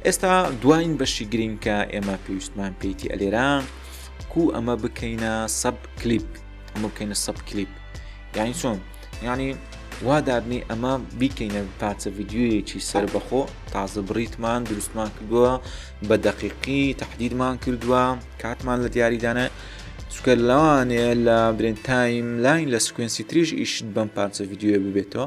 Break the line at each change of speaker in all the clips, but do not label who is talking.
ئێستا دواین بەشی گرینگ کە ئێمە پێویستمان پێیتی ئەلێرا کو ئەمە بکەینە سەب کلیپ ئەمە بکەینە سەب کلیپ یانی چۆن ینی وا دابنی ئەمە بیکەینە پارچە ڤیددیویەکی سەر بەخۆ تازە بڕیتمان دروستمان کردووە بە دەقیقی تهدیدمان کردووە کاتمان لە دیاریدانە سکە لەوانەیە لە برێن تایم لاین لە سکوێنسی تریش ئیشت بەم پارچە ڤیددیوە ببێتەوە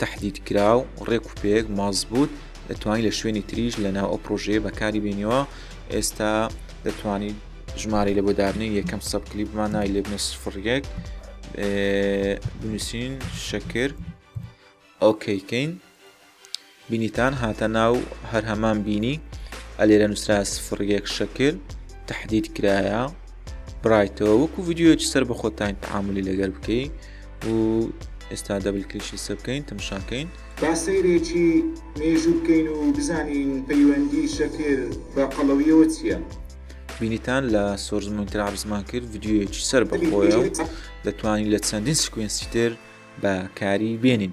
تەحدید کرا و ڕێک و پێک مەزبووت دەتوانانی لە شوێنی تریش لە ناو ئەو پرۆژەیە بەکاری بینیەوە ئێستا دەتوانین ژمارەی لە بۆدارنی یەکەم سەب کلیپمان نای لێبنە سفڕێک بنووسین شەکر ئۆکەیکەین بینیتان هاتە ناو هەر هەمان بینی ئەلێرە نووسرا سفڕێک شەکر تهدید کرایە برایتەوە وەکو یددیوەکی سەر بە خۆتان تعاملی لەگەر بکەیت و ئێستا دەبل کلیکی لسەر بکەین تەمشا کەین. با سەیرێکی
مێژوو بکەین و بزانین پەیوەندی شەکر بە قەڵەویەوە چیە؟ بینیتان
لە سۆرس مۆنیتەر عەرزمان کرد ڤیدیۆیەکی سەر بەخۆیە و دەتوانین لە چەندین سکوێنسی تر بەکاری بێنین.